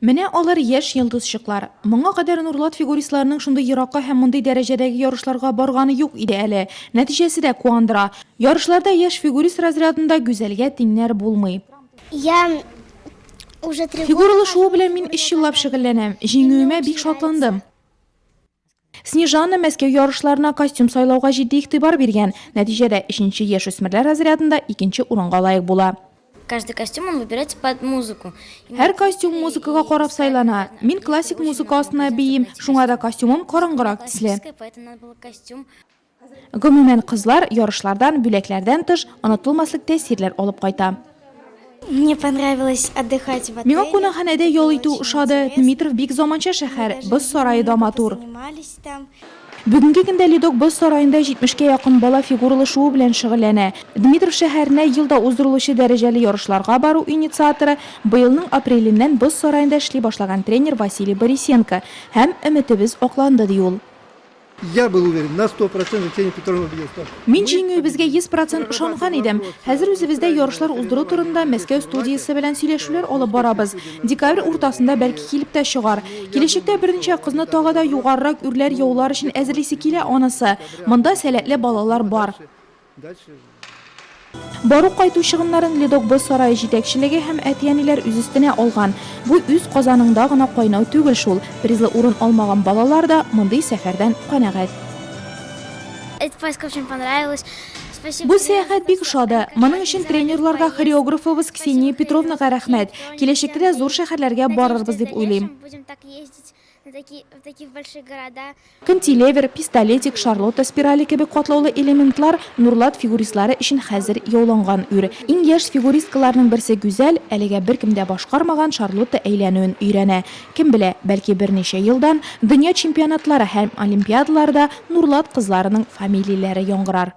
Менә алар яшь йолдызчыклар. Моңа кадәр Нурлат фигуристларының шундый еракка һәм мондый дәрәҗәдәге ярышларга барганы юк иде әле. Нәтиҗәсе дә куандыра. Ярышларда яшь фигурист разрядында Гүзәлгә тиңнәр булмый. Фигуралы шуу белән мин өч еллап шөгыльләнәм. Җиңүемә бик шатландым. Снежана Мәскәү ярышларына костюм сайлауга җитди игътибар биргән. Нәтиҗәдә, өченче яшүсмерләр разрядында икенче урынга лаек була. Каждый костюм он выбирается под музыку. Һәр костюм музыкага карап сайлана. Мин классик музыка астына биим, шуңа да костюмым караңгырак төсле. Гомумән, кызлар ярышлардан, бүләкләрдән тыш, онытылмаслык тәэсирләр алып кайта. Миңа кунакханәдә ял итү ошады. Дмитров бик заманча шәһәр, боз сарае да матур. Бүгенге көндә Ледок боз сараенда 70 кә якын бала фигуралы шуу белән шөгыльләнә. Дмитров шәһәренә ел да уздырылучы дәрәҗәле ярышларга бару инициаторы, быелның апреленнән боз сараенда эшли башлаган тренер Василий Борисенко һәм өметебез акланды, ди ул. Я был уверен на сто процентов Ксения Петровна убедила, что... Мин җиңүебезгә 100% ышанган идем. Хәзер үзебездә ярышлар уздыру турында Мәскәү студиясе белән сөйләшүләр алып барабыз. Декабрь уртасында бәлки килеп тә чыгар. Киләчәктә берничә кызны тагы да югарырак үрләр яулар өчен әзерлисе килә анысы. Монда сәләтле балалар бар. Бару-кайту чыгымнарын Ледокбыз сарае җитәкчелеге һәм әти-әниләр үз өстенә алган. Бу үз казаныңда гына кайнау түгел шул. Призлы урын алмаган балалар да мондый сәфәрдән канәгать. Бу сәяхәт бик ошады. Моның өчен тренерларга, хореографыбыз Ксения Петровнага рәхмәт. Киләчәктә дә зур шәһәрләргә барырбыз дип уйлыйм. Кантилевер, пистолетик, шарлотта спирале кебек катлаулы элементлар Нурлат фигуристлары өчен хәзер яуланган үр. Иң яшь фигуристкаларның берсе Гүзәл, әлегә беркем дә башкармаган шарлотта әйләнүен өйрәнә. Кем белә, бәлки берничә елдан дөнья чемпионатлары һәм олимпиадаларда Нурлат кызларының фамилияләре яңгырар.